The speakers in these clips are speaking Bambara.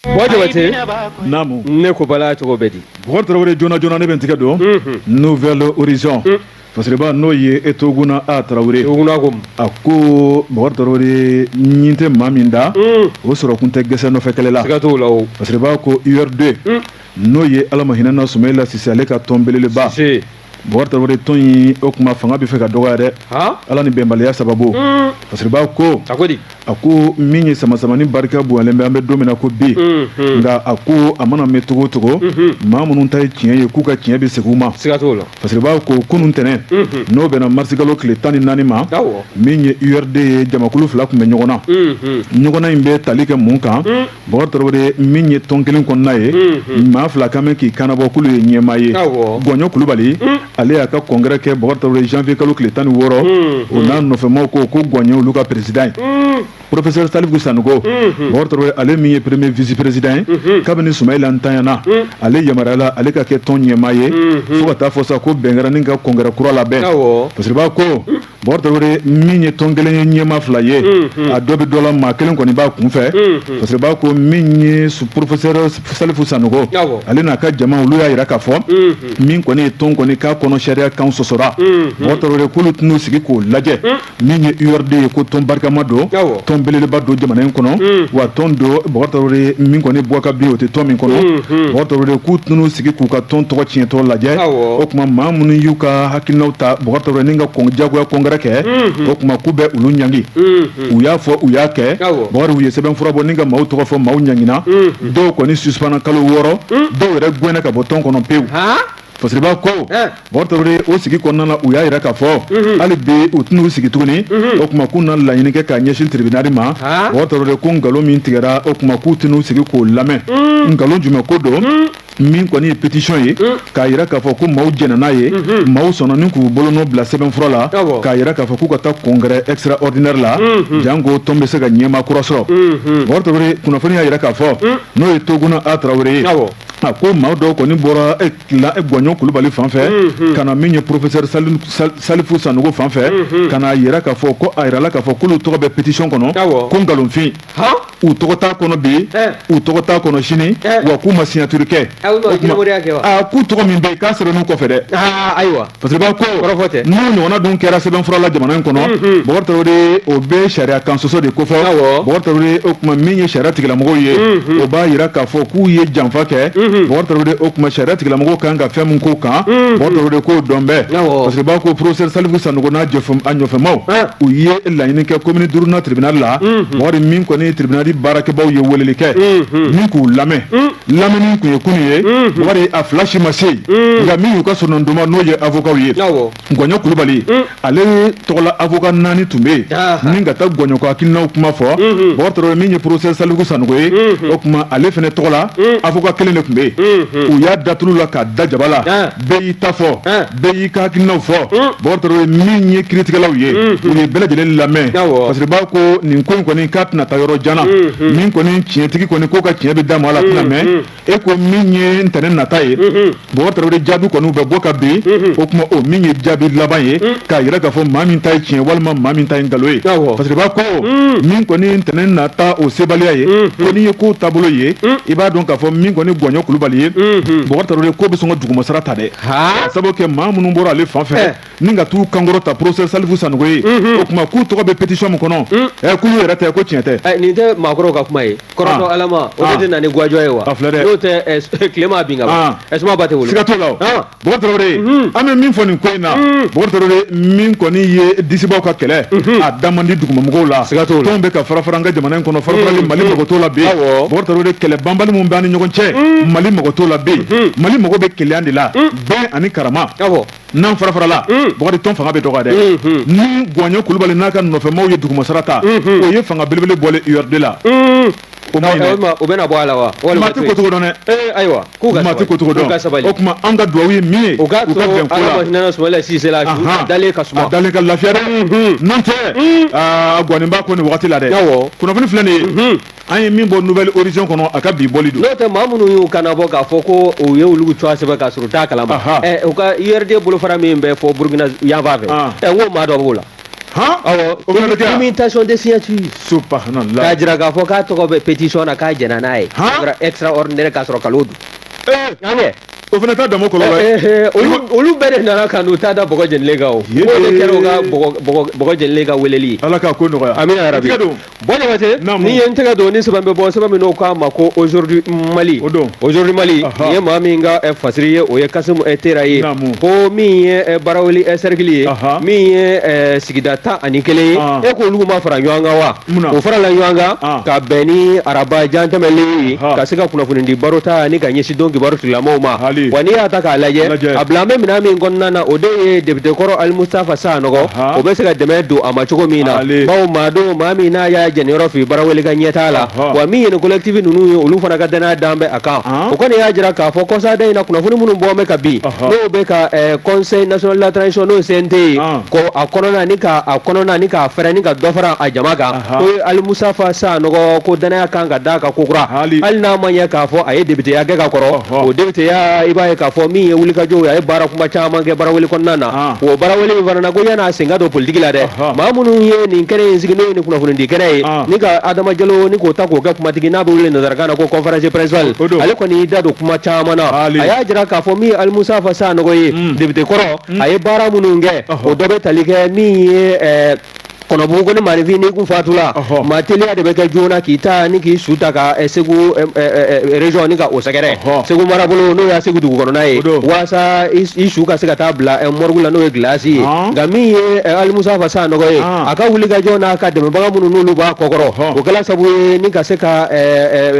Bon Jabate, naamu, ne ko bala cogo bɛ di? Bukari Tarawele joona joona ne bɛ n tigɛ don, unhun, Nouvel Horizon, un, Fasiriba n'o ye e Toguna A Tarawele, Toguna ko, a ko Bukari Tarawele ɲin tɛ maa min da, un, o sɔrɔkun tɛ gɛsɛ nɔfɛ kɛlɛ la, siga t'o la o, Fasiriba ko URD, un, n'o ye Ala ma hinɛna Sumayila Sise ale ka tɔn belebeleba, Sise bɔkari tarawele tɔn in o kuma fanga bɛ fɛ ka dɔgɔya dɛ ala ni bɛnbaliya sababu mm. fasiriba ko a ko min ye samasamani barika bonyalen bɛ an bɛ don min na ko bi mm-hmm. nka a ko a mana mɛn cogo cogo mm-hmm. maa minnu ta ye tiɲɛ ye k'u ka tiɲɛ bɛ segin u ma fasiriba ko kunun tɛnɛn mm-hmm. n'o bɛnna marisikalo tile tan ni naani ma min ye urd ye jamakulu fila tun bɛ ɲɔgɔn na ɲɔgɔnna in bɛ tali kɛ mun kan mm. bɔkari tarawele min ye tɔn kelen kɔnɔna ye maa fila kan bɛ k'i kanabɔ k'olu ye ɲɛmaa ye gɔɲɔ kulubali ale y'a ka congrès kɛ bɔkari tarawele janvier kalo tile tan ni wɔɔrɔ o n'a nɔfɛmaw ko ko gɔɲɔ olu ka peresidan ye professeur saliku sanogo bɔkari tarawele ale min ye premier vice président ye kabini sumayila ntanyana ale yamaruyala ale ka kɛ tɔn ɲɛmaa ye fo ka taa fɔ sa ko bɛn kɛra ni ka congrès kura labɛn fasiriba ko Bɔkari tarawele min ye tɔn kelen ɲɛmaa fila ye a dɔ bɛ dɔ la maa kelen kɔni b'a kun fɛ fasiriba ko min ye professeur salifu sanogo ale n'a ka jama olu y'a jira k'a fɔ min kɔni ye tɔn kɔni ka kɔnɔ sariya kan sɔsɔra bɔkari tarawele k'olu tɛna u sigi k'o lajɛ min ye urd ye ko tɔn barikama don tɔn belebeleba don jamana in kɔnɔ wa tɔn don bɔkari tarawele min kɔni bɔka bi o tɛ tɔn min kɔnɔ bɔkari tarawele k'u tɛna u sigi k'u ka tɔn tɔgɔ tiɲɛtɔ lajɛ o tuma maa minnu y'u ka hakilinaw ta bɔkari tarawele ni ka kɔn jagoya congrès kɛ o tuma k'u bɛ olu ɲangi u y'a fɔ u y'a kɛ bɔkari u ye sɛbɛn fura bɔ ni ka maaw tɔgɔ fɔ maaw ɲangina dɔw kɔni suspana kalo wɔɔrɔ dɔw yɛrɛ gɛnna ka bɔ tɔn kɔnɔ pewu fasiriba ko bɔkari tarawele o sigi kɔnɔna na u y'a jira k'a fɔ hali bi u tɛna u sigi tuguni o tuma k'u na laɲini kɛ ka ɲɛsin tiribinari ma bɔkari tarawele ko nkalon min tigɛra o tuma k'u tɛna u sigi k'o lamɛn nkalon jumɛn ko don min kɔni ye pétition ye mm. k'a jira k'a fɔ ko maaw jɛnna n'a ye mm-hmm. maaw sɔnna ni k'u bolonɔ bila sɛbɛnfura la k'a jira k'a fɔ k'u ka taa congrès extraordinaire la mm-hmm. janko tɔn bɛ se ka ɲɛmaa kura sɔrɔ mm-hmm. bɔkari tarawele kunnafoni y'a jira k'a fɔ mm. n'o ye toguna a tarawele ye a ko maa dɔw kɔni bɔra eh, eh, gɔɲɔ kulubali fan fɛ ka na min ye professeur salifu sanogo fan fɛ ka n'a jira k'a fɔ ko a jirala k'a fɔ k'olu tɔgɔ bɛ pétition kɔnɔ ko nkalonfin u tɔgɔ t'a kɔnɔ bi u tɔgɔ t'a kɔnɔ sini wa k'u ma signature kɛ k'u tɔgɔ min bɛ yen k'a sɛbɛnna u kɔfɛ dɛ ayiwa fasiriba ko n'o ɲɔgɔnna dun kɛra sɛbɛnfura la jamana in kɔnɔ bɔkari tarawele o bɛ sariya kan sɔsɔ de ko fɔ bɔkari tarawele o tuma min ye sariya tigilamɔgɔ ye o b'a jira k'a fɔ k'u ye janfa kɛ bɔkari tarawele o tuma sariya tigilamɔgɔ kan ka fɛn min k'o kan bɔkari tarawele k'o dɔn bɛɛ fasiriba ko professeur salifu sanogo n'a nɔfɛmaw u ye laɲini kɛ komini duurunan tribunali la Bɔkari min kɔni tribunali baarakɛbaaw ye weleli kɛ min k'u lamɛn lamɛnni tun ye kunu ye Bɔkari a fila si ma se nka min y'u ka soronadonna n'o ye avokaw ye gɔnyɔ kulubali ale tɔgɔla avoka naani tun bɛ yen min ka taa gɔnyɔ ka hakilinaw kuma fɔ Bɔkari Tarawele min ye professeur saliku sanogo ye o kuma ale fana tɔgɔla avoka kelen de tun bɛ yen u y'a da tulu la k'a da jaba la bɛɛ y'i ta fɔ bɛɛ y'i ka hakilinaw fɔ Bɔkari Tarawele min ye kiritigɛlaw ye u ye bɛɛ lajɛlen lamɛn parce que b'a ko nin ko in kɔni k'a tɛna taa yɔrɔ jan na min kɔni tiɲɛtigi kɔni k'o ka tiɲɛ bɛ d'a ma la tɛna mɛn e ko min ye ntɛnɛn nata ye Bɔkari Tarawele jaabi kɔni bɛ bɔ ka bin o kuma o min ye jaabi laban ye k'a yira k'a fɔ maa min ta ye tiɲɛ walima maa min ta ye nkalon ye parce que b'a ko min kɔni ntɛnɛn nata o sebaliya ye ko n'i ye ko taabolo ye i b'a dɔn k'a fɔ min kɔni gɔɲɔ kulubali ye Bɔkari Tarawele k'o bɛ sɔn ka dugumasara ta dɛ ka sabu kɛ maa minnu bɔra ale fan fɛ ni ka t'u kan kɔrɔta professeur salifu sanogo ye o kuma k'u tɔgɔ bɛ pétition min kɔnɔ ɛ k'olu yɛrɛ tɛ ko tiɲɛ tɛ nin tɛ maakɔrɔw ka kuma ye kɔrɔtɔ alama o de nana ni gwajɔ ye wa a filɛ dɛ n'o tɛ tilema bin ka ban ɛsuma ba tɛ wolo siga t'o la Bɔkari Tarawele an bɛ min fɔ nin ko in na Bɔkari Tarawele min kɔni ye disibaw ka kɛlɛ a da man di dugumamɔgɔw la siga t'o la tɔnw bɛ ka farafara an ka jamana kɔnɔ farafarali Mali mago t'o la bi awɔ. Bɔkari Tarawele kɛlɛ banbali min b'an ni ɲɔgɔn cɛ Mali mago t'o la bi Mali mago bɛ kelenya de la bɛn ani karama awɔ n'an farafarala Bɔkari tɔn fanga bɛ dɔgɔya dɛ ni Gɔɲɔ Kulubali n'a ka nɔfɛmaaw ye dugumasara ta o ye fanga belebele bɔlen URD la o ma ɲi dɛ o bɛna bɔ a la wa walima maa tɛ ko cogo dɔn dɛ ee ayiwa k'u ka sabali, ko cogo dɔn, k'u ka sabali. o kuma an ka duwawu ye min ye u ka bɛn ko la Ala ma hinɛna Sumayila Sise la Ahan. a dalen ka suma a dalen ka lafiya dɛ n'o tɛ aa, a gwannen b'a kɔ nin wagati la dɛ Awɔ. kunnafoni filɛ nin ye an ye min bɔ Nouvel Horizon kɔnɔ a ka bi bɔli don n'o tɛ maa minnu y'u kan nabɔ k'a fɔ ko u ye olu tɔgɔ sɛbɛn k'a sɔrɔ u t'a kalama Aha. ɛ u ka URD bolofara min bɛ fɔ Burukina yanfan fɛ Ah. ɛ n ko maa dɔ b'o la imitation de signature subhanallah k'a jira k'a fɔ k'a tɔgɔ bɛ pétition na k'a jɛna n'a ye extraordinaire k'a sɔrɔ nkalon don yanni o fana t'a dama ko olu bɛɛ de nana ka n'u ta da bɔgɔ jɛnilen kan o o de kɛra u ka bɔgɔ jɛnilen ka weleli ye ala ka ko nɔgɔya amina yarabi Bon Jabate n'i ye n tɛgɛ don ni sɛbɛn bɛ bɔ sɛbɛn min n'o k'a ma ko aujourd'hui Mali o don aujourd'hui Mali nin ye maa min ka fasiri ye o ye Kasimu Tera ye ko min ye Baraweli cercle ye min ye sigida tan ani kelen ye e ko olu ma fara ɲɔgɔn kan wa mun na u farala ɲɔgɔn kan ka bɛn ni araba jan tɛmɛnlen ye ka se ka kunnafonidi baro ta ani ka ɲɛsin don kibaru tigilamɔgɔw ma wa n'i y'a ta k'a lajɛ a bila an bɛ minɛn min kɔnɔna na o de ye député kɔrɔ Alimustafa Sanɔgɔ o bɛ se ka dɛmɛ don a ma cogo min na bawo maa don maa min n'a y'a jeniyɔrɔ fin barawele ka ɲɛtaa la wa min ye nin collectif ninnu ye olu fana ka danaya dalen bɛ a kan o kɔni y'a jira k'a fɔ kɔsa da in na kunnafoni minnu bɔ bɛ ka bin n'o bɛ ka conseil national de la transition n'o CNT ye ko a kɔnɔna ni k'a kɔnɔna ni k'a fɛrɛ ni ka dɔ fara a jama kan ko alimusitafa sanɔgɔ ko danaya ka kan ka da a kan kokura hali n'a ma ɲɛ k'a fɔ a ye depiteya kɛ ka kɔrɔ o depiteya i b'a ye k'a fɔ min ye wulikajɔ a ye baara kunba caman kɛ barawele kɔnɔna na o barawele fana ko yanni a sen ka don politiki la dɛ maa minnu ye nin kɛnɛ in sigi n'o ye nin kunnafoni di kɛnɛ ye ni ka adama jalo ni k'o ta k'o kɛ kumatigi n'a bɛ wele nansarakan na ko conférencier principal ale kɔni y'i da don kuma caman na a y'a jira k'a fɔ min ye alimusitafa sanɔgɔ ye depite kɔrɔ a ye baara minnu kɛ o dɔ bɛ tali kɛ min ye kɔnɔbugu kɔni maaninfin n'i kun fatula maa teliya de bɛ kɛ joona k'i ta ni k'i su ta ka eh, segu eh, eh, region ni ka o sɛgɛrɛ segu marabolo n'o ye segu dugukɔnɔna ye walasa i su ka se ka taa bila mɔrigu la n'o ye gilasi ye nka min ye alimusitafa sanɔgɔ ye a ka wulikajɔ n'a ka dɛmɛbaga minnu n'olu b'a kɔkɔrɔ o kɛla sabu ye ni ka se ka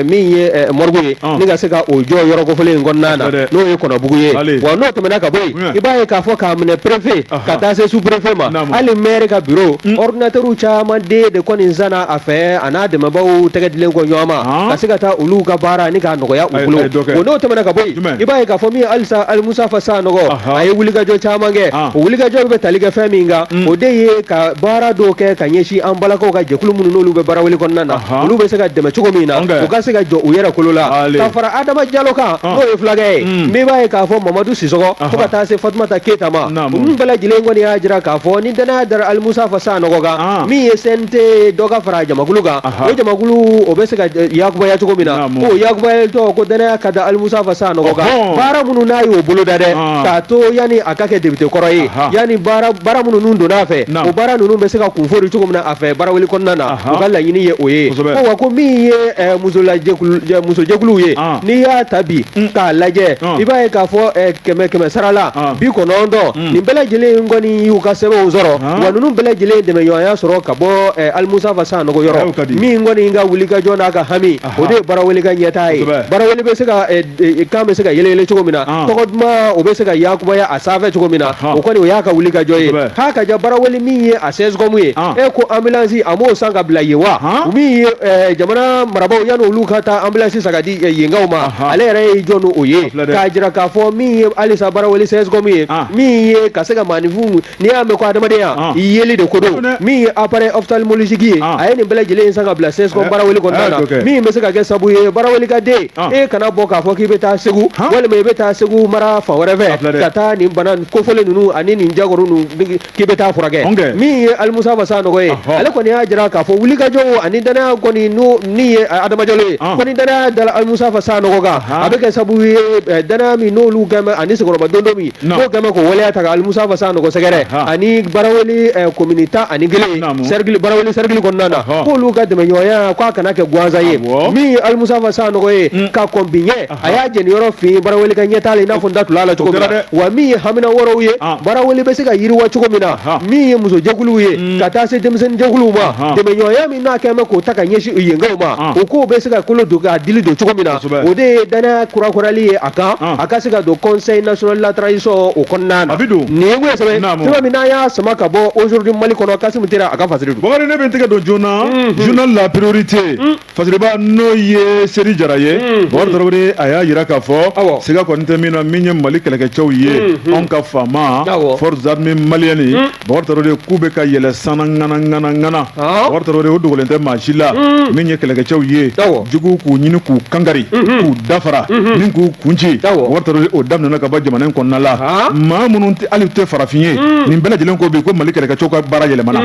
min ye mɔrigu ye ni ka se ka o jɔ yɔrɔ kofɔlen in kɔnɔna na n'o ye kɔnɔbugu ye wa n'o tɛmɛna ka bɔ yen i b'a ye k'a fɔ k'a minɛ perefe ka taa se su perefe ma hali mɛri ka biro mm. ordinatɛriw caman de kɔni sanna a fɛ a n'a dɛmɛbaaw tɛgɛ dilen kɔ ɲɔgɔn ma ah. ka se ka taa olu ka baara ni k'a nɔgɔya u bolo o n'o tɛmɛna ka bɔ yen i b'a ye k'a fɔ min halisa alimusitafa sanɔgɔ a ye wulikajɔ caman kɛ ah. o wulikajɔ bɛ tali kɛ fɛn min kan mm. o de ye ka baara dɔw kɛ ka ɲɛsin an balakaw ka jɛkulu minnu n'olu bɛ barawele kɔnɔna na olu bɛ se ka dɛmɛ cogo min na u ka se ka jɔ u yɛrɛ kolo la ka fara adama jalo kan n'o ye fulakɛ ye i b'a ye k'a fɔ mamadu sisɔgɔ fo ka taa se fatumata keyita ma ninnu bɛɛ lajɛlen kɔni y'a jira k'a fɔ ni danaya dara alimusitafa sanɔgɔ kan min ye CNT dɔ ka fara jamakulu kan o jamakulu o bɛ se ka yakubaya cogo min na o yakubayatɔ ko danaya ka da alimusitafa sanɔgɔ kan baara minnu n'a y'o boloda dɛ k'a to yanni a ka kɛ depite kɔrɔ ye yanni baara minnu donna a fɛ o baara ninnu bɛ se ka kunfori cogo min na a fɛ barawele kɔnɔna na u ka laɲini ye o ye ko wa ko min ye musolajɛkuluw ye n'i y'a ta bi mm. k'a lajɛ mm. i b'a ye k'a fɔ eh, kɛmɛ kɛmɛ sara la ah. bi kɔnɔntɔn mm. nin bɛɛ lajɛlen kɔni y'u ka sɛbɛnw sɔrɔ ah. wa ninnu bɛɛ lajɛlen dɛmɛɲɔgɔnya sɔrɔ ka bɔ eh, alimusitafa sanɔgɔ yɔrɔ min kɔni ka wulikajɔ n'a ka hami o de ye barawele ka ɲɛtaa ye barawele bɛ se ka eh, kan bɛ se ka yɛlɛyɛlɛ cogo min na ah. tɔgɔ duman o bɛ se ka yakubaya a sanfɛ cogo min na o kɔni o y'a ka wulikajɔ ye k'a ka ja barawele min ye sɛsikɔmu ye e ko anbilansi a b'o san ka bila yen wa min ye eh, jamana marabaw yanni olu ka taa anbilansi san ka di eh, yenkaw ma ale yɛrɛ y'i jɔ ni o ye k'a jira k'a fɔ min ye halisa barawele sɛsikɔmu ye min ye ka se ka maaninfin n'i y'a mɛn ko adamadenya yeli de ko don min ye appareil ophtalmologique ye a ye nin bɛɛ lajɛlen in san ka bila sɛsikɔmu eh, barawele kɔnɔna na min bɛ se ka kɛ sabu ye barawele ka den e kana bɔ k'a fɔ k'i bɛ taa segu walima i bɛ taa segu mara fan wɛrɛ fɛ ka taa nin bana kofɔlen ninnu ani nin jankaro ninnu k'i bɛ taa furakɛ okay. min ye alimusitafa sanɔgɔ ye ale kɔni y'a jira k'a fɔ wulikajɔ ani danaya kɔni n'o ye adama jalo ye ko ni danaya dala alimusitafa sanɔgɔ kan a bɛ kɛ sababu ye eh, danaya min n'olu gɛmɛ ani senkɔrɔmadondon min n'o kɔni bɛ k'o waleya taa ka alimusitafa sanɔgɔ sɛgɛrɛ ani baraweli eh, komini tan ani kelen sɛrigili baraweli sɛrigili kɔnɔna na k'olu ka dɛmɛɲɔgɔnya k'a kana kɛ gansan ye min ye alimusitafa sanɔgɔ ye mm. ka kɔn bi ɲɛ a y'a jɛniyɔrɔ fin baraweli ka ɲɛtaa la i n'a fɔ n da tun b'a la cogo wa min ye haminayɔrɔw ye baraweli bɛ se ka yiriwa cogo min na min ye musojɛkuluw ye mm. ka taa se denmisɛnninjɛkuluw ma dɛmɛɲɔgɔnya min n'a kɛ k'o ta ka ɲɛsin u yenkaw ma o ko bɛ se ka kolo don k'a dili don cogo min na o de ye danaya kurakurali ye a kan a ka se ka don conseil national de la transition o kɔnɔna na nin cogo min n'a y'a sama ka bɔ aujourd'hui mali kɔnɔ kasumu tera a ka fasiri bɔkari ne bɛ n tɛgɛ don journal la priorité Fasiriba n'o ye seri jara ye bɔkari tarawele a y'a jira k'a fɔ siga kɔni tɛ min na min ye mali kɛlɛkɛcɛw ye anw ka fama forces armées maliennes bɔkari tarawele k'u bɛ ka yɛlɛn san na ŋanaŋana bɔkari tarawele o dogolen tɛ maa si la min ye kɛlɛkɛcɛw ye jugu k'u ɲini k'u kangari k'u dafara ni k'u kun ci bɔkari tarawele o daminɛna kaban jamana in kɔnɔna la maa minnu tɛ ali tɛ farafin ye nin bɛɛ lajɛlen ko bi ko mali kɛlɛkɛcɛw ka baara yɛlɛmana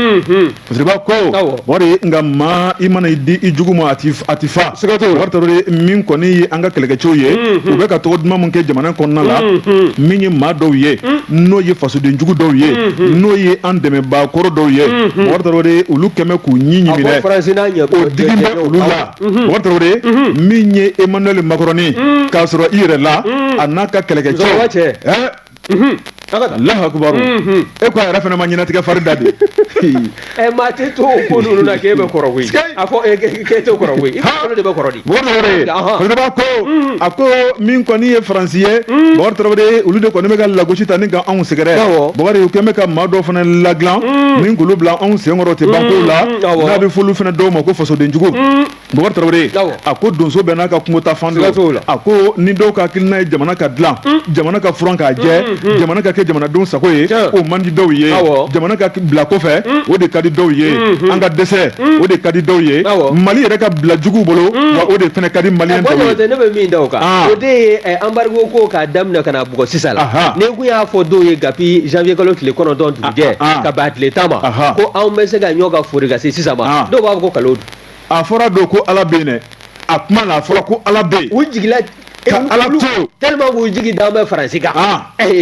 Ba ko bɔkari nka maa i mana i di i jugu ma a t'i fa bɔkari tarawele min kɔni ye an ka kɛlɛkɛcɛw ye u bɛ ka tɔgɔ duman min kɛ jamana kɔnɔna la min ye maa dɔw ye n'o ye fasodenjugu dɔw ye n'o ye an dɛmɛbaakɔrɔ dɔw ye bɔkari tarawele olu kɔni bɛ k'u ɲin ɲimi ɛ o digi bɛ olu la bɔkari tarawele min ye emmanuel macron ye k'a sɔrɔ i yɛrɛ la a n'a ka kɛlɛkɛcɛw allahu akbar e ko a yɛrɛ fana ma ɲɛnatigɛ fari da de ɛ maa tɛ to o ko ninnu na k'e bɛ kɔrɔ koyi a fɔ k'e tɛ kɔrɔ koyi i bolo de bɛ kɔrɔ di bɔrɔ yɛrɛ kɔnɔ ba ko a ko min kɔni ye faransi ye bɔkari tarawele olu de kɔni bɛ ka lagosi ta ni ka anw sɛgɛrɛ bɔkari u kɔni bɛ ka maa dɔ fana ladilan min k'olu bila anw senkɔrɔ tɛ banko la n'a bɛ fɔ olu fana dɔw ma ko fasodenjugu Bɔkari Tarawele, awɔ, a ko donso bɛɛ n'a ka kungo ta fan don, siga t'o la, a ko ni dɔw ka hakilina ye jamana ka dilan, jamana ka furan k'a jɛ, jamana ka kɛ jamanadenw sago ye, tiɲɛ, o man di dɔw ye, awɔ, jamana ka bila kɔfɛ, o de ka di dɔw ye, an ka dɛsɛ, o de ka di dɔw ye, awɔ, Mali yɛrɛ ka bila juguw bolo, wa o de fana ka di maliyɛn Ɛ, Bɔ dɔw ye. Jabate, ne bɛ min da o kan, Ah. o de ye ɛ, embargo ko k'a daminɛ ka na bugɔ sisan la, Aha. n'i kun y'a fɔ dɔw ye depuis janvier kalo tile kɔnɔntɔn dugujɛ Ah, ah, ah. ka bɛn a tile tan ma, Aha. ko anw bɛ se ka ɲɔ ka fori ka se sisan ma, Ah. dɔw b'a fɔ ko nkalon don. a fɔra don ko ala bɛ yen dɛ a kuma la a fɔra ko ala bɛ yen. u jigila ka ala to tellement k'u jigi da bɛ faransi kan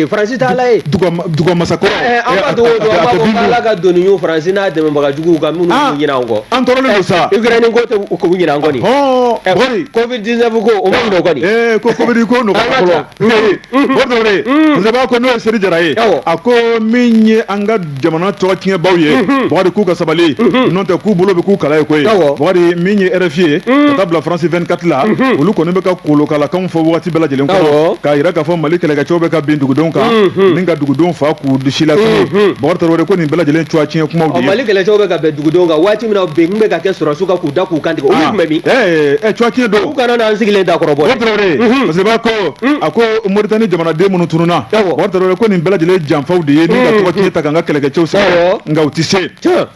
faransi t'ala ye duga masakɔrɔ an b'a dogo dɔn an b'a fɔ k'ala ka doni y'u faransi n'a dɛmɛbaga juguw ka minnu b'u ɲinɛ an kɔ an tɔɔrɔlen don sa ukraine ko tɛ u k'u ɲinɛ an kɔ nin covid 19 ko o ma ɲinɛ o kɔ nin ko covid ko nɔgɔ fɔlɔ bɔkari tarawele parce que a b'a ko n'o ye seri jara ye a ko min ye an ka jamana tɔgɔ tiɲɛbaw ye bakari k'u ka sabali n'o tɛ k'u bolo bɛ k'u kala ye koyi bakari min ye rfi ye ka taa bila France 24 la olu kɔni bɛ ka kolokalakan fɔ waati bɛɛ lajɛlen kɔnɔ k'a jira k'a fɔ mali kɛlɛkɛcɛw bɛ ka bin dugudenw kan ni ka dugudenw fa k'u silatunun bakari tarawele ko nin bɛɛ lajɛlen tɔgɔ tiɲɛ kumaw de ye mali kɛlɛkɛcɛw bɛ ka bin dugudenw kan waati min na bin bɛ ka kɛ sɔrɔdasiw kan k'u da k'u kan tigɛ o min tɔgɔ tiɲɛ don u kana an sigilen dakɔrɔbɔ parce que b'a ko Hmm. a ko moritani jamanaden minnu tununa bakari tarawele ko nin bɛɛ lajɛlen janfaw de ye ni ka hmm. tɔgɔ tiɲɛ ta k'an ka kɛlɛkɛcɛw sɛgɛrɛ nka u tɛ se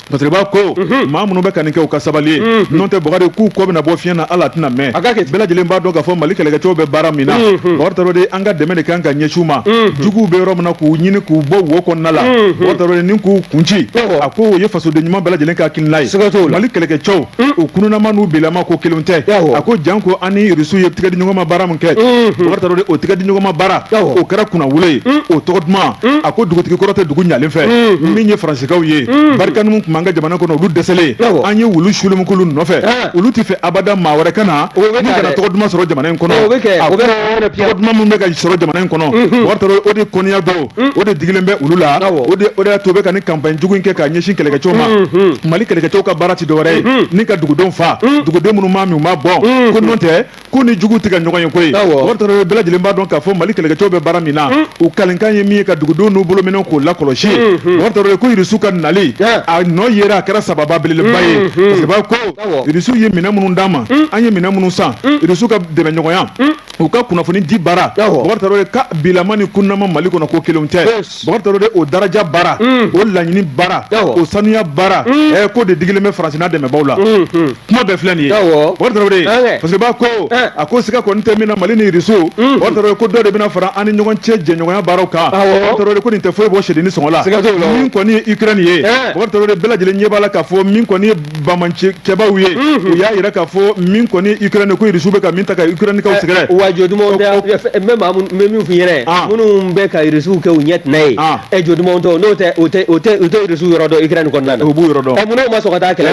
parce que b'a ko hmm. maa minnu bɛ ka nin kɛ u ka sabali ye n'o tɛ bakari k'u kɔ bɛna bɔ fiɲɛ na ala tɛna mɛn bɛɛ lajɛlen b'a dɔn k'a fɔ mali kɛlɛkɛcɛw bɛ baara min na bakari tarawele an ka dɛmɛ de kan ka ɲɛsin u ma juguw bɛ yɔrɔ min na k'u ɲini k'u bɔ wo kɔnɔna la bakari tarawele ni k'u kunci a ko o ye fasoden ɲuman bɛɛ lajɛlen ka hakilina ye mali kɛlɛkɛcɛw Mm. u kununama n'u bilama ko kelen tɛ a ko janko an ni irisiw ye tɛgɛdiɲɔgɔnma baara min kɛ mm-hmm. bakari tarawele o tɛgɛdiɲɔgɔnma baara o kɛra kunnawolo ye mm. o tɔgɔ duman mm. a ko dugutigi kɔrɔ tɛ dugu ɲalen fɛ mm-hmm. min ye faransikaw ye mm-hmm. barikani minnu tun b'an ka jamana kɔnɔ olu dɛsɛlen an ye wulu sulumukulu nɔfɛ eh. olu t'a fɛ abada maa wɛrɛ ka na ni ka na tɔgɔ duman sɔrɔ jamana in kɔnɔ tɔgɔ duman min bɛ ka sɔrɔ jamana in kɔnɔ bakari tarawele o de kɔniya don Mm. o de digilen bɛ olu la o de y'a to bɛ ka nin kanpaɲi jugu in kɛ ka ɲɛsin kɛlɛkɛcɛw ma mm-hmm. mali kɛlɛkɛcɛw ka baara tɛ dɔwɛrɛ ye mm-hmm. ni ka dugudenw fa mm. dugudenw minnu ma min u ma bɔn mm-hmm. ko n'o tɛ k'u ni jugu tɛ ka ɲɔgɔn ye koyi bakari tarawele bɛɛ lajɛlen b'a dɔn k'a fɔ mali kɛlɛkɛcɛw bɛ baara min na mm. u kalikan ye min ye ka dugudenw n'u bolominɛnw k'o lakɔlɔsi bakari tarawele ko irisiw ka nali a nɔ yera a kɛra sababa belebeleba ye parce que b'a ko irisiw ye minɛn minnu d'an ma an ye minɛn minnu san irisiw ka dɛmɛɲɔgɔnya u ka kunnafoni di baara bakari tarawele k'a bilama ni kununama mali kɔnɔ ko kelenw tɛ bakari tarawele o daraja baara mm. o laɲini baara o sanuya baara mm. eh, ko de digilen bɛ faransi n'a dɛmɛbaaw la mm, kuma bɛɛ filɛ nin ye bakari tarawele parce que b'a ko eh. a ko siga kɔni tɛ min na mali ni irisi bakari tarawele ko dɔ de bɛna fara an ni ɲɔgɔn cɛ jɛɲɔgɔnya baaraw kan bakari tarawele ko nin tɛ foyi bɔ sɛdennin sɔngɔ la min kɔni ye ukraine ye bakari eh. tarawele bɛɛ lajɛlen ɲɛ b'a la k'a fɔ min kɔni ye banbaanci kɛbaw ye u y'a jira k'a fɔ min kɔni ukraine ko irisiw bɛ ka min ta ka ukrainekaw sɛgɛrɛ wa jɔ duman min f'i yɛrɛ minnu bɛ ka irisiw kɛ u ɲɛ tɛnɛ ye ɛ jɔ duman tɛ n'o tɛ u tɛ irisiw yɔrɔ dɔn ukraine kɔnɔna na u b'u yɔrɔ dɔn munna u ma sɔn ka taa kɛlɛ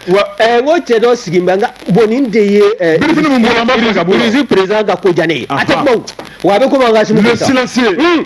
wa n ko cɛ dɔ sigi bɛ nka bon nin de ye birifini min bɔra an b'a fɛ ka bɔ irisi perezidan ka ko diya ne ye a tɛ kuma wa a bɛ komi an ka sini le silencieux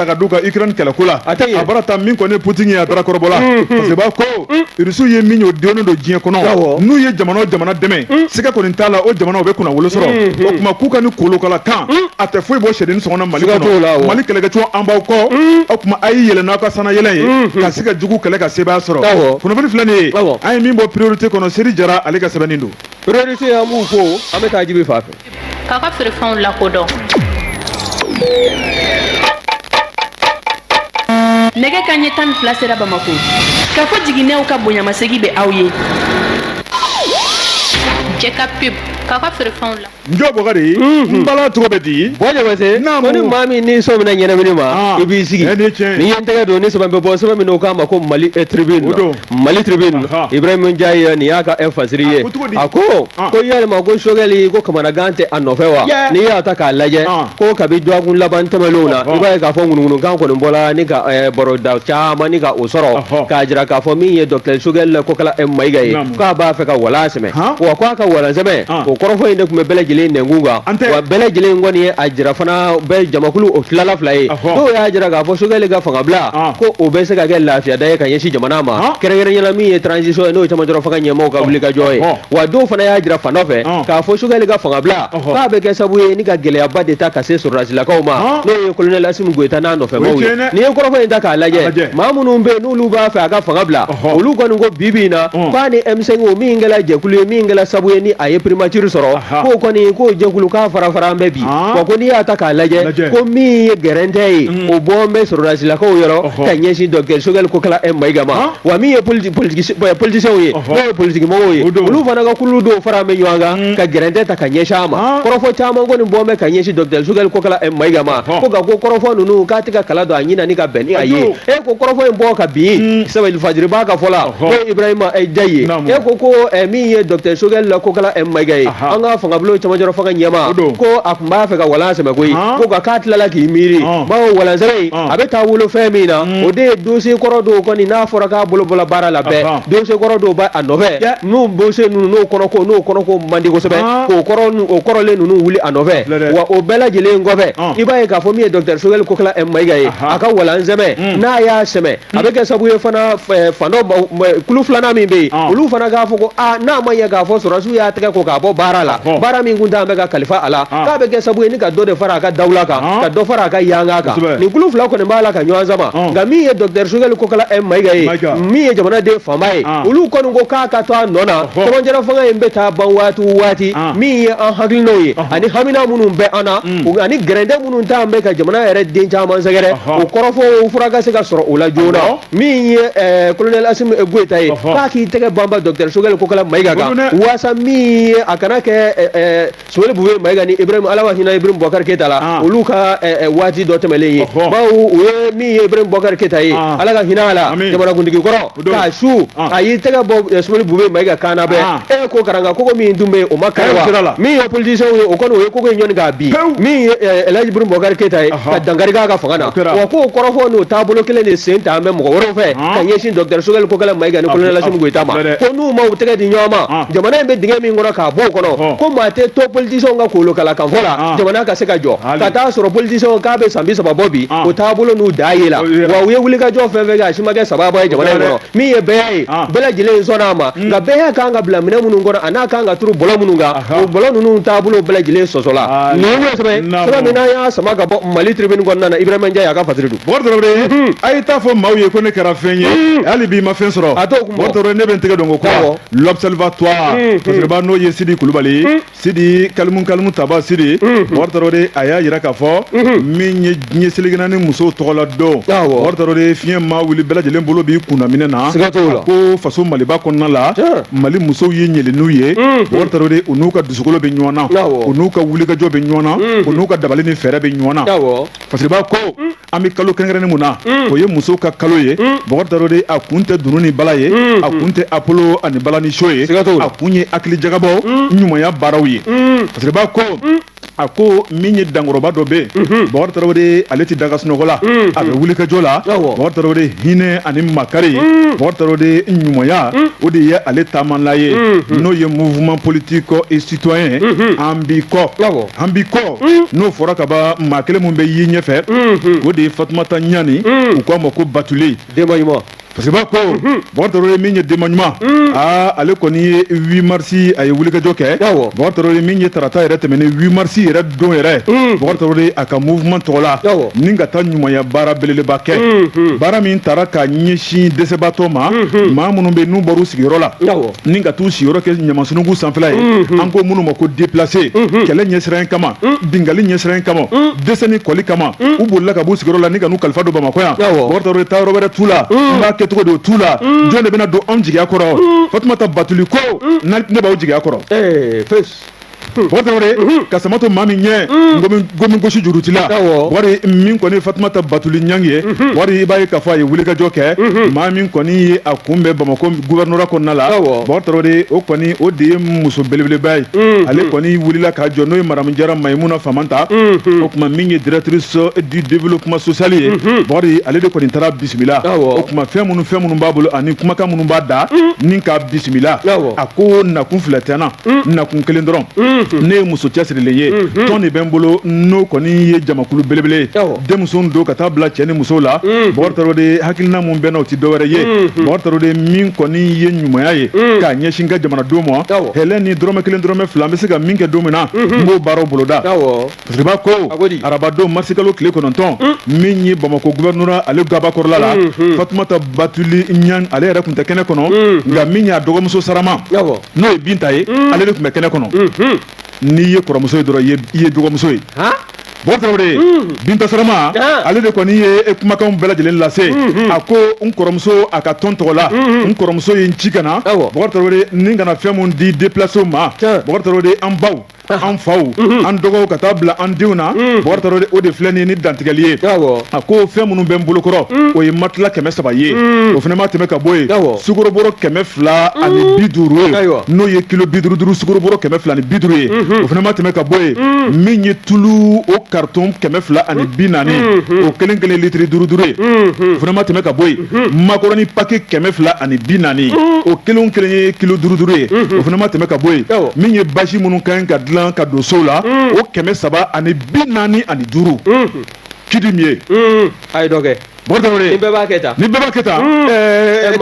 ka d'u ka Ukraine kɛlɛko la a bara taa min kɔni ye Putin ye a taara kɔrɔbɔla mm-hmm. parce que b'a ko mm-hmm. Russiw ye min y'o dɔnnen don diɲɛ kɔnɔ n'u ye jamana o jamana dɛmɛ mm-hmm. siga kɔni t'a la o jamana o bɛ kunnawolo sɔrɔ o tuma k'u ka nin kolokalakan a tɛ foyi bɔ sɛdennin sɔngɔn na Mali kɔnɔ Mali kɛlɛkɛcɛw an b'aw kɔ o tuma a y'i yɛlɛn n'aw ka sanayɛlɛn ye ka se ka jugu kɛlɛ ka sebaaya sɔrɔ kunnafoni filɛ nin ye an ye min bɔ priorité kɔnɔ Seri Jara ale ka sɛbɛnni don priorité an b'u fo an bɛ taa Jibi fa fɛ k'a ka feerefɛnw lakodɔn nɛgɛ kanɲɛ tan ni fila sera bamako ka fɔ jiginnɛw ka bonyamasegi bɛ aw ye jɛ ka pub k'a ka feerefɛnw la njɔ bɔkari mhm. n bala cogo bɛ di bɔ jabase ko ni maa min ni sɔn bɛna ɲɛnamini ma ah. i b'i sigi n'i ye n tɛgɛ don ni sɛbɛn bɛ bɔ sɛbɛn min n'o k'a ma ko mali eh, tribune mali tribune ibrahim njaye nin y'a ka fasiri ye a ko ah. ko yalima ko sogɛli ko kamanagan tɛ a nɔfɛ wa n'i y'a ta k'a lajɛ ah. ko kabi dɔgɔkun laban tɛmɛnlenw na i b'a ye k'a fɔ ŋunuŋunukan kɔni bɔla ni ka eh, baroda caman ni ka o sɔrɔ k'a jira k'a fɔ min ye dɔkitɛri sogɛli kokala eh, mayiga ye k'a b'a fɛ ka walan sɛmɛ wa k'a ka walansɛmɛ ah. o kɔrɔfɔ in de tun bɛ bɛɛ lajɛlen nɛnkun kan wa bɛɛ lajɛlen kɔni ye a jira fana bɛɛ jamakulu o tilala fila ye dɔw y'a jira k'a fɔ sogɛli ka fangabila ah. ko o bɛ se ka kɛ lafiya da ye ka ɲɛsin jamana ma ah. kɛrɛnkɛrɛnyala min ye transition ye n'o ye camancɛrɔ fanga ɲɛmɔgɔw ka ah. wuli ka jɔ ye wa dɔw fana y'a jira fan dɔ fɛ k'a fɔ sogɛli ka fangabila k'a bɛ kɛ sabu ye ni ka gɛlɛyaba de ta ka se sɔrɔdasilakaw ma n'o ye kolonɛli asimu goyita n'a nɔfɛmaaw ye n'i ye kɔrɔfɔ in ta k'a lajɛ maa minnu bɛ yen n'olu b'a fɛ a ka fanga bila olu kɔni ko bi bi in na k'a ni m5 min kɛla jɛkulu ye min kɛla sabu ye ni a ye primature sɔrɔ k'o kɔni k'o jɛkulu k'a farafaralen bɛ bi wa ko n'i y'a ta k'a lajɛ ko min ye gɛrɛntɛ ye mm. o bɔlen bɛ sɔrɔdasilakaw yɔrɔ ka ɲɛsin dɔkitɛri sogɛli kokala ɛ mayiga ma wa min ye politisiyɛnw ye n'o ye politikimɔgɔw ye olu fana ka kulu dɔw faralen bɛ ɲɔgɔn kan mm. ka gɛrɛntɛ ta ka ɲɛsin a ma kɔrɔfɔ caman kɔni bɔlen bɛ ka ɲɛsin dɔkitɛri sogɛli kokala ɛ mayiga ma ko nka ko kɔrɔfɔ ninnu k'a tɛ ka kala don a ɲɛ na ni ka bɛn ni a ye e ko kɔrɔfɔ in bɔ ka bin mm. sabali fajiriba ka fɔ la ko ibrahima eh, njaye e ko ko eh, min ye docteur sogɛli la kokala eh, mayiga ye an ka fangabulon camancɛrɔ fanga ɲɛmaa ko a tun b'a fɛ ka walan sɛmɛ koyi ko nka k'a tilala k'i miiri bawo walansɛmɛ in a bɛ taa wolo fɛn min na mm. o de ye dosie kɔrɔ dɔw kɔni n'a fɔra k'a bolo bɔla baara la bɛɛ dosie kɔrɔ dɔw b'a nɔfɛ n'u dosie ninnu n'o kɔnɔko n'o kɔnɔko man di kosɛbɛ k'o kɔrɔlen ninnu wuli a nɔfɛ wa o bɛɛ lajɛlen kɔfɛ i b'a ye k'a fɔ min ye docteur sogɛli kokala mayiga ye a ka walansɛmɛ mm. n'a y'a sɛmɛ a bɛ kɛ sabu ye fana fan dɔ kulu filanan min bɛ yen olu fana k'a fɔ ko aa n'a ma ɲɛ k'a fɔ sɔrɔdasiw y'a tɛgɛ ko k'a bɔ baara la baara min kun talen bɛ ka kalifa a la k'a bɛ kɛ sabu ye ni ka dɔ de fara a ka dawula kan ka dɔ fara a ka yanga kan nin kulu fila kɔni b'a la ka ɲɔgɔn sama nka min ye dɔkitɛri sogɛli kokala mayiga ye min ye jamanaden fanba ye olu kɔni ko k'a ka to a nɔ na camancɛrɔ fanga in bɛ taa ban waati o waati min ye an hakilinaw ye ani hamina minnu bɛ an na ani gɛrɛntɛ minnu talen bɛ ka jamana yɛrɛ den caman sɛgɛrɛ o kɔrɔfɔ o fura ka se ka sɔrɔ o la joona min ye kolonɛli asimu goyita ye k'a k'i tɛgɛ banba dɔkitɛri sogɛli kokala mayiga kan waasa min ye a kana kɛ sumeyilu bubɛyi mayiga ni ibirahimu ala ka hinɛ ibirahimu bɔkari keyita la olu ka waati dɔ tɛmɛlen ye bawo o ye min ye ibirahimu bɔkari keyita ye ala ka hinɛ a la jamanakuntigi kɔrɔ k'a su ah. a y'i tɛgɛ bɔ eh, sumeyilu bube mayiga kan na bɛɛ ah. e ko karanga kogo min dun bɛ o ma kari wa min ye politisiyɛnw ye o kɔni o ye kogo in ɲɔni k'a bi min ye eh, elhaji ibirahima bubakari keyita ye ka dankari k'a ka fanga na wa k'o kɔrɔfɔ n'o taabolo kelen de sen ta an bɛ mɔgɔ wɛrɛw fɛ ah. ka ɲɛsin dɔkitɛri sogɛli kokala mayiga ni kolonɛli asimi goyita ma ko n'u ma u tɛgɛ di ɲɔgɔn ma jamana in bɛ dingɛ min kɔnɔ k'a bɔ o kɔnɔ ko maa tɛ to politisiyɛnw ka kolokala kanfɔ la jamana ka se ka jɔ ka taa sɔrɔ politisiyɛnw k'a bɛ san bi saba bɔ bi o taabolo n'u da ye la wa u ye wulikajɔ fɛn fɛn kɛ a si ma kɛ sababa ye jamana in kɔnɔ min ye bɛɛya ye bɛɛ lajɛlen sɔnna a ma nka bɛɛya kan ka bila minɛn minnu kɔnɔ a n'a kan ka turu bɔlɔ minnu kan o bɔlɔ ninnu taabolo bɛɛ lajɛlen sɔsɔla nin ye sɛbɛn sɛbɛn min n'an y'a sama ka bɔ mali tribune kɔnɔna na ibirahima njayi a ka fasiri don bakari tarawele a ye taa fɔ maaw ye ko ne kɛra fɛn ye hali bi ma fɛn sɔrɔ a t'o kun bɔ bakari tarawele ne bɛ n tɛgɛ don ko kɔrɔ l'observatoire fasiribaa n'o ye sidi kulubali ye sidi kalimu kalimu taba sidi bakari tarawele a y'a yira k'a fɔ min ye diɲɛ seleke naani musow tɔgɔla don bakari tarawele fiɲɛ ma wuli bɛɛ lajɛlen bolo b'i kunna minɛn na ko faso maliba kɔnɔna la mali musow ye ɲeleninw ye bakari tarawele u n'u ka dusukolo bɛ ɲɔgɔn na u n'u ka wulikajɔ bɛ ɲɔgɔn na u n'u ka dabali ni fɛɛrɛ bɛ ɲɔgɔn na fasiriba ko an bɛ kalo kɛrɛnkɛrɛnnen min na mm. o ye musow ka kalo ye mm. bakari tarawele a kun tɛ dunun ni bala ye mm. a kun tɛ apolo ani balani show ye a kun ye hakili jagabɔ ɲumanya baaraw ye fasiriba ko a ko min ye dankɔrɔba dɔ bɛ yen mhm. bakari tarawele ale tɛ daga sunɔgɔ la mhm. a bɛ wulikajɔ la bakari tarawele hinɛ ani makari ye mhm. bakari tarawele ɲumanya o de ye ale taamanla ye n'o ye mouvement politique et citoyen an b'i kɔ an b'i kɔ mm. n'o fɔra ka ban maa kelen min bɛ ye ɲɛfɛ mm-hmm. o de ye fatumata ɲani mm. u k'a ma ko batuli fasiriba ko mhm. bakari tarawele min ye denba ɲuman mhm. aa ah, ale kɔni ye 8 marisi a ye wulikajɔ kɛ bakari tarawele min ye tarata yɛrɛ tɛmɛnen 8 marisi yɛrɛ don yɛrɛ mhm. bakari tarawele a ka mouvement tɔgɔ la ni ka taa ɲumanya baara belebeleba kɛ baara min taara ka ɲɛsin dɛsɛbaatɔw ma maa minnu bɛ n'u bɔr'u sigiyɔrɔ la ni ka t'u sigiyɔrɔ kɛ ɲaman sunugun sanfɛla ye mhm. an ko minnu ma ko déplacé mhm. kɛlɛ ɲɛsiranya kama mhm. binkanni ɲɛsiranya kama dɛsɛ ni kɔli kama u bolila ka b'u sigiyɔrɔ la ni ka n'u kalifa don bamakɔ yan bakari tarawele taa yɔrɔ wɛrɛ t'u la n b'a kɛcogo de o t'u la jɔn de bɛna don anw jigiya kɔrɔ fatumata batuli ko ne b'aw jigiya kɔrɔ eh, Bɔkari hmm. Tarawele hmm. ka sama to maa min ɲɛ hmm. gomi gosi jurutila Bɔkari min kɔni Fatumata Batuli Ɲani ye Bɔkari i b'a ye k'a fɔ a ye wulikajɔ kɛ maa min kɔni ye a kunbɛn Bamakɔ gouvernorat kɔnɔna la Bɔkari Tarawele o kɔni o de ye muso belebeleba ye ale kɔni wulila k'a jɔ n'o ye Madamu Jara Mayimuna Famanta o tuma min ye directrice du développement social ye Bɔkari ale de kɔni taara bisimila o tuma fɛn minnu fɛn minnu b'a bolo ani kumakan minnu b'a da ni k'a bisimila a ko nakun fila tɛ n na mm. nakun kelen dɔrɔn mm-hmm. ne ye muso cɛsirilen ye mm-hmm. tɔn de bɛ n bolo n'o kɔni ye jamakulu belebele ye denmuso don ka taa bila cɛ ni muso la mm-hmm. Bɔkari Tarawele hakilina min bɛ n na o tɛ dɔwɛrɛ ye Bɔkari Tarawele min kɔni ye ɲumanya ye mm. k'a ɲɛsin n ka jamanadenw ma hali ni dɔrɔmɛ kelen dɔrɔmɛ fila n bɛ se ka min kɛ don min na n b'o baaraw boloda b'a ko arabadon marisikalo tile kɔnɔntɔn min ye bamakɔ gouvernorat ale gabakɔrɔla la fatumata batuli ɲan ale yɛrɛ tun tɛ kɛnɛ kɔnɔ nka min y'a dɔgɔmuso sarama n'o ye binta ye ale de tun bɛ kɛnɛ kɔnɔ n'i ye kɔrɔmuso ye dɔrɔn i ye dɔgɔmuso ye Bɔkari Tarawele binta sarama ale de kɔni ye kumakan bɛɛ lajɛlen lase a ko n kɔrɔmuso a ka tɔn tɔgɔ la n kɔrɔmuso ye n ci ka na Bɔkari Tarawele ne ka na fɛn min di déplacéw ma Bɔkari Tarawele an baw an faw mhm. an dɔgɔw ka taa bila an denw na mhm. Bɔkari Tarawele o de filɛ nin ni dantigɛli ye a ko fɛn minnu bɛ n bolokɔrɔ mhm. o ye matila kɛmɛ saba ye o fana ma tɛmɛ ka bɔ yen sukorobɔrɔ kɛmɛ fila ani bi duuru ye n'o ye kilo bi duuru duuru sukorobɔrɔ kɛmɛ fila ani bi duuru ye o fana ma tɛmɛ ka bɔ yen min ye tulu o karitɔn kɛmɛ fila ani bi naani o kelen kelen litiri duuru duuru ye o fana ma tɛmɛ ka bɔ yen hmm. makɔrɔni pake kɛmɛ fila ani bi naani hmm. o kelen kelen ye kilo duuru duuru ye hmm. o fana ma tɛmɛ ka bɔ yen min ye basi minnu ka ɲi ka dilan ka don sow la o kɛmɛ saba ani bi naani ani duuru kidi min ye a ye dɔ kɛ Bɔkari Tarawele ni bɛɛ b'a kɛ tan ni bɛɛ b'a kɛ tan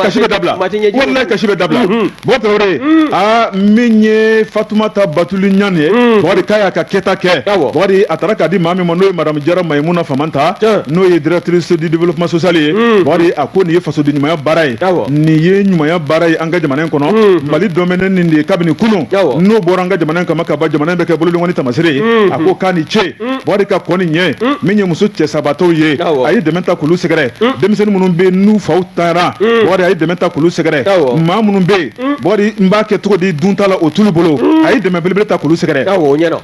kasi bɛ dabila walayi kasi bɛ dabila Bɔkari Tarawele mm. aa min ye Fatumata Batuli Ɲan ye mm. Bɔkari k'a y'a ka kɛta kɛ Bɔkari a taara k'a di maa min ma n'o ye Madame Jara Mayimuna Famanta n'o ye directrice du développement social ye mm. Bɔkari a ko nin ye fasodenɲumanya baara ye nin ye ɲumanya baara ye an ka jamana in kɔnɔ Mali dɔnnen bɛ ni nin de ye kabini kunun n'o bɔra an ka jamana in kama ka ban jamana in bɛ kɛ bolodenkɔni tamasere ye a ko k'a ni ce mm. Bɔkari ka kɔn nin ɲɛ mm. min ye muso cɛ sabatɔw ye a ye dɛmɛ ta k'olu sɛgɛrɛ mm. denmisɛnnin minnu bɛ n'u faw taara Bɔkari a ye dɛmɛ ta k'olu sɛgɛrɛ maa minnu bɛ yen Bɔkari n b'a kɛ cogo di dunta la o t'olu bolo a ye dɛmɛ belebele ta k'olu sɛgɛrɛ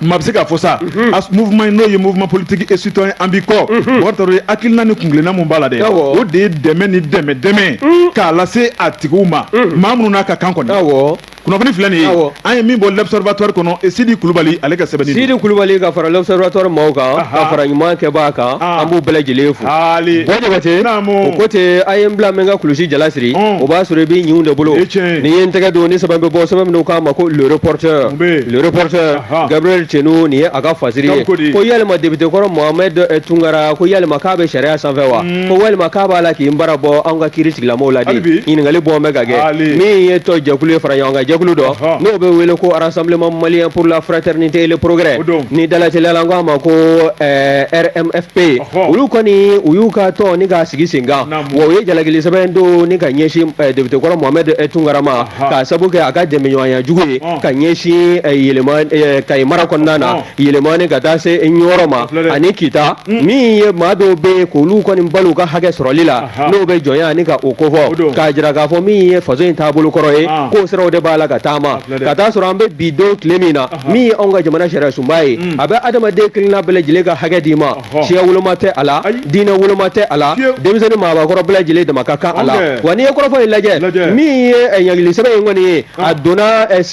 maa bɛ se k'a fɔ sa mm-hmm. a mouvement n'o ye mouvement politique et citoyen an b'i kɔ Bɔkari mm-hmm. Tarawele hakilina ni kuntilenna min b'a la dɛ o de ye dɛmɛ ni dɛmɛ dɛmɛ k'a lase a tigiw ma maa minnu n'a ka kan kɔni kunnafoni filɛ nin ye an ye min bɔ l'observatoire kɔnɔ eh, sidi kulubali ale ka sɛbɛnni sidi kulubali ka fara l'observatoire maaw kan ka fara ɲuman kɛbaa kan ah. an b'u bɛɛ lajɛlen fo bon jabate o ko ten a ye n bila n bɛ n ka kulusijala siri oh. o b'a sɔrɔ i b'i ɲinw de bolo ne ye n tɛgɛ don ni sɛbɛn bɛ bɔ sɛbɛn minnu k'a ma ko le reporter le reporter gabriel cenu nin ye a ka fasiri ye ko yalima depitekɔrɔ mohamɛd eh, tunkara ko yalima k'a bɛ sariya sanfɛ wa mm. ko walima k'a b'a la k'i n bara bɔ anw ka kiri sigilamɔgɔw la de ɲininkali bɔ bɛ ka kɛ min ye tɔn jɛkulu ye fara ɲɔgɔn kan jɛkulu dɔ n'o bɛ wele ko rassemblement malien pour la fraternité et le progrès ni dalateliya la n ko a ma ko eh, rmfp olu kɔni u y'u ka tɔn ni k'a sigi sen kan wa u ye jalakili sɛbɛn don ni ka ɲɛsin eh, depite kɔrɔ mohamɛd eh, tunkara ma k'a sabu kɛ a ka dɛmɛɲɔgɔnya jugu ye ka ɲɛsin yɛlɛma kayi mara kɔnɔna na yelimani ka taa se ɲɔrɔ ma ani kita mm. min ye maa dɔw bɛ yen k'olu kɔni bali u ka hakɛ sɔrɔli la n'o bɛ jɔnya ani ka o kofɔ k'a jira k'a fɔ min ye faso in taabolo kɔrɔ ye ah. k'o siraw de b'a la ka taama ka taa sɔrɔ an bɛ bi don tile min na min ye anw ka jamana sariyasunba ye mm. a bɛ adamaden kelenna bɛɛ lajɛlen ka hakɛ d'i ma siya woloma tɛ a la diinɛ woloma tɛ a la denmisɛnnin maabakɔrɔ bɛɛ lajɛlen dama ka kan a la wa n'i ye kɔrɔfɔ in lajɛ min ye eh, ɲangili sɛbɛn in kɔni ye a donna eh,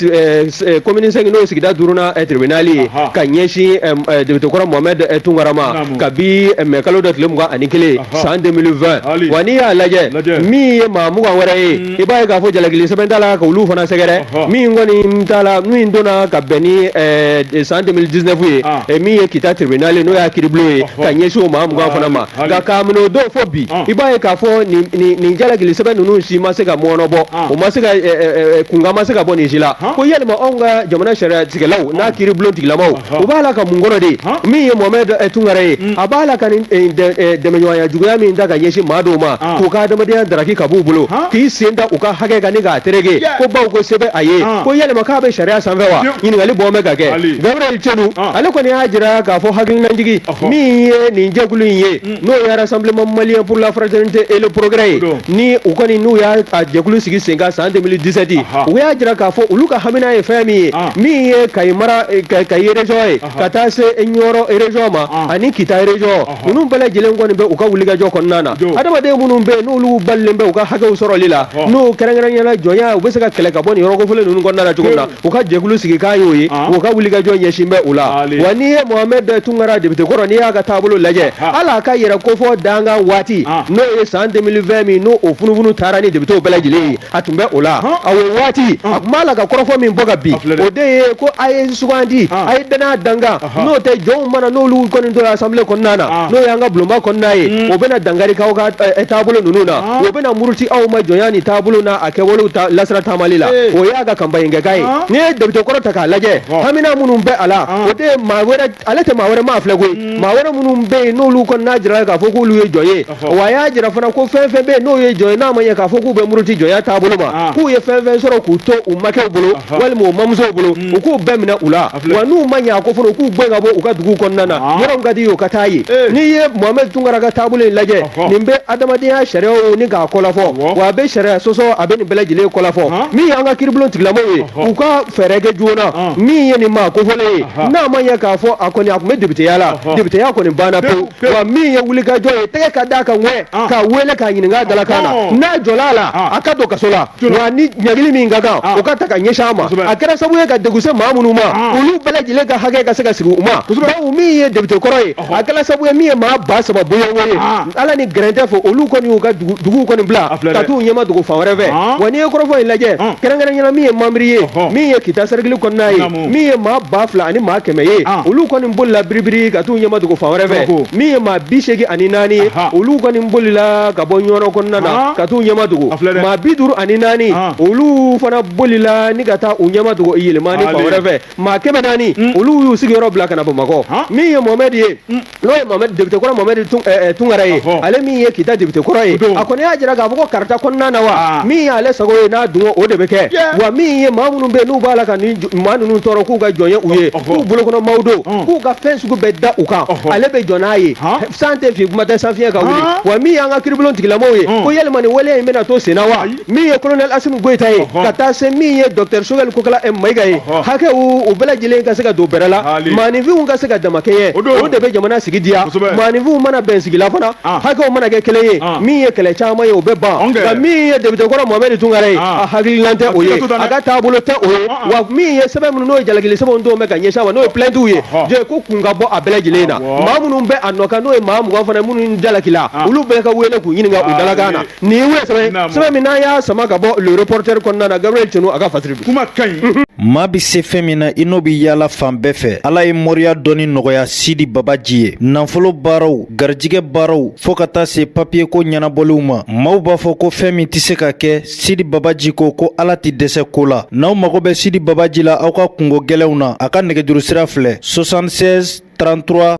eh, komini sɛnki n'o sigida duurunan tribinali ye ka ɲɛsin depite kɔrɔ mohamɛd tunkara ma kabi mɛ kalo dɔ tile mugan ani kelen san 2020 wa n'i y'a lajɛ min ye maa mugan wɛrɛ ye i b'a ye k'a fɔ jalakili sɛbɛn tala ka olu fana sɛgɛrɛ min kɔni tala min donna ka bɛn ni eh, san 2019 ye ah. eh, min ye kita tribunal ye n'o y'a kiribulon ye ka ɲɛsin o maa mugan ah. fana ma nka k'a minɛ o don fo bi ah. i b'a ye k'a fɔ nin jalakili sɛbɛn ninnu si ma se ka mɔɔnɔ bɔ o ma se ka eh, kunkan ma se ka bɔ nin si la ko yalima anw ka jamana sariya tigɛlaw n'a kiribulon tigilamaw u b'a la ka mun kɔnɔ de min ye Mohamed eh, Tunkara ye mm. a b'a la ka nin eh, eh, dɛmɛɲɔgɔnya juguya min ta ka ɲɛsin maa dɔw ma k'u ka adamadenya daraki ka b'u bolo k'i sen da u ka hakɛ kan ni k'a tereke ko baw ko sɛbɛn a ye ko yalima k'a bɛ sariya sanfɛ wa ɲininkali bɔn bɛ ka kɛ Gabriel Cenu ale kɔni y'a jira k'a fɔ hakilinajigi min ye nin jɛkulu in ye mm. n'o ye rassemblement malien pour la fraternité et le progrès ye ni u kɔni n'u y'a jɛkulu sigi senkan san 2017 u y'a jira k'a fɔ olu ka hamina ye fɛn min ye ah. min ye kayi mara eh, kayi région ye ka taa se ɲɔrɔ région ma ah. ani kita région ninnu bɛɛ lajɛlen kɔni bɛ u ka wulikajɔ kɔnɔna na adamaden minnu bɛ yen n'olu balilen bɛ u ka hakɛw sɔrɔli la n'o kɛrɛnkɛrɛnyala jɔnya u bɛ se ka kɛlɛ ka bɔ nin yɔrɔ kofɔlen ninnu kɔnɔna na cogo min na u ka jɛkulu sigikan y'o ye u ka wulikajɔ ɲɛsin bɛ o la wa n'i ye mohamɛd tunkara depite kɔrɔ n'i y'a ka taabolo lajɛ hali a ka yɛrɛ kofɔ danga waati n'o ye san 2020 min n'o o funufunu taara ni depitew bɛɛ lajɛlen ye a tun bɛ o la a o waati a tun b'a la ka kɔrɔfɔ min bɔ ka bin o de ye ko a ye sugandi a ye danaya d'an kan n'o tɛ jɔnw mana n'olu kɔni tora assemblée kɔnɔna na ah. n'o y'an ka bulonba kɔnɔna ye hmm. o bɛna dankari k'aw ka eh, eh, taabolo ninnu na ah. o bɛna muruti aw ma jɔnya ni taabolo n'a kɛwalew lasira taamali la eh. o y'a ka kanpaɲi kɛkan ye ah. n'i ye depite kɔrɔ ta k'a lajɛ hamina minnu bɛ a la o de maa wɛrɛ ale tɛ maa wɛrɛ maa filɛ koyi hmm. maa wɛrɛ minnu bɛ yen n'olu kɔni n'a jirala k'a fɔ k'olu ye jɔn ye wa a y'a jira fana ko fɛn fɛn bɛ yen n'o ye jɔn ye n'a ma ɲɛ k'a fɔ k'u bɛ muruti jɔnya taabolo ma ah. k'u ye fɛn fɛn sɔrɔ k'u to u makɛw bolo walima u mamusow bolo hmm. u k'u bɛɛ minɛ u la wa n'u ma ɲɛ a ko fana u k'u gɛn ka bɔ u ka duguw kɔnɔna na ah. yɔrɔ min ka di ye o ka taa yen eh. n'i ye mohamɛdi tunkara ka taabolo in lajɛ nin bɛ adamadenya sariyaw ni k'a kɔlafɔ wa a bɛ sariya sɔsɔ a bɛ nin bɛɛ lajɛlen kɔlafɔ ah. min y'an ka kiribulon tigilamaaw ye u ka fɛɛrɛ kɛ joona min ye nin maa kofɔlen ye n'a ma ɲɛ k'a fɔ a kɔni a tun bɛ depiteya la depiteya kɔni banna pewu wa min ye wulikajɔ ye tɛgɛ ka d'a kan ɛ ah. k'a wele k'a ɲininka a dalakan na ah. n'a jɔla a la ah. a ka don kaso la wa ni ɲagili min ka kan o ka ta ka ɲɛsin a ma a kɛra sabu ye ka degun se maa minnu ma olu bɛɛ lajɛlen ka hakɛ ka se ka sigi u ma bawo min ye depite kɔrɔ ye a kɛra sabu ye min ye maa ba saba bɔɲɔgɔn ye ala ni gɛrɛntɛ fɔ olu kɔni y'u ka duguw kɔni bila ka t'u ɲɛma dogo fan wɛrɛ fɛ wa n'i ye kɔrɔfɔ in lajɛ kɛrɛnkɛrɛnya la min ye manbiri ye min ye kita sɛrikili kɔnɔna ye min ye maa ba fila ani maa kɛmɛ ye olu kɔni bolila biribiri ka t'u ɲɛma dogo fan wɛrɛ fɛ min ye maa bi seegin ani naani ye olu kɔni bolila ka bɔ ɲɔnɔ kɔnɔna na ka t'u ɲɛma dogo maa bi duuru ani naani olu fana bolila ni ka taa u ɲɛma dogo yelimani fan wɛrɛ fɛ maa kɛmɛ naani olu y'u sigiyɔrɔ bila ka na bamakɔ min ye mohamɛdi ye n'o ye député kɔrɔ Mohamed Tunkara ye ale min ye kita député kɔrɔ ye a kɔni y'a jira k'a fɔ ko kaarata kɔnɔna na wa min y'ale sago ye n'a dungo o de bɛ kɛ wa min ye maa minnu bɛ yen n'u b'a la ka nin maa ninnu tɔɔrɔ k'u ka jɔn ye u ye k'u bolokɔnɔ maaw don k'u ka fɛn sugu bɛɛ da u kan ale bɛ jɔ n'a ye san tɛ fin kuma tɛ san fiɲɛ ka wuli wa min y'an ka kiribulon tigilamaaw ye ko yalima nin waleya in bɛna to sen na wa min ye kolonɛl asimi goyita ye ka taa se min ye dɔktɛr sogɛl kokala eh, mayiga ye hakɛw bɛɛ lajɛlen ka se ka don bɛrɛ la maaninfinw ka se ka damakɛɲɛ o de bɛ jamana sigi diya maaninfinw mana bɛn sigila fana ah. hakɛw mana kɛ kelen ye ah. min ye kɛlɛ caman ye o bɛ ban nka min ye depite kɔrɔ mohamɛdi tunkara ye ah. a hakililan tɛ o ye a ka taabolo tɛ o ye wa min ye sɛbɛn minnu n'o ye jalakili sɛbɛnw dɔw bɛ ka ɲɛsin a ma n'o ye pilɛntiw ye jɛ ko kun ka bɔ a bɛɛ lajɛlen na maa minnu bɛ a nɔ kan n'o ye maa mugan fana minnu jalakila olu bɛɛ ka wele k'u ɲininka u dalakan na nin ye wele sɛbɛn Naamu. sɛbɛn min n'an y'a sama ka bɔ le reporter kɔnɔna na gabriel cenu a ka fasiri don kuma ka ɲi maa bɛ se fɛn min na i n'o bɛ yaala fan bɛɛ fɛ ala ye mɔriya dɔɔni nɔgɔya sidi babaji ye nafolo baaraw garijigɛ baaraw fɔɔ ka taa se papiye ko ɲɛnabɔliw ma maaw b'a fɔ ko fɛn min tɛ se ka kɛ sidi babaji ko ko ala tɛ dɛsɛ ko la n'aw mago bɛ sidi babaji la aw ka kunko gɛlɛnw na a ka nɛgɛjuru sira filɛ 76 33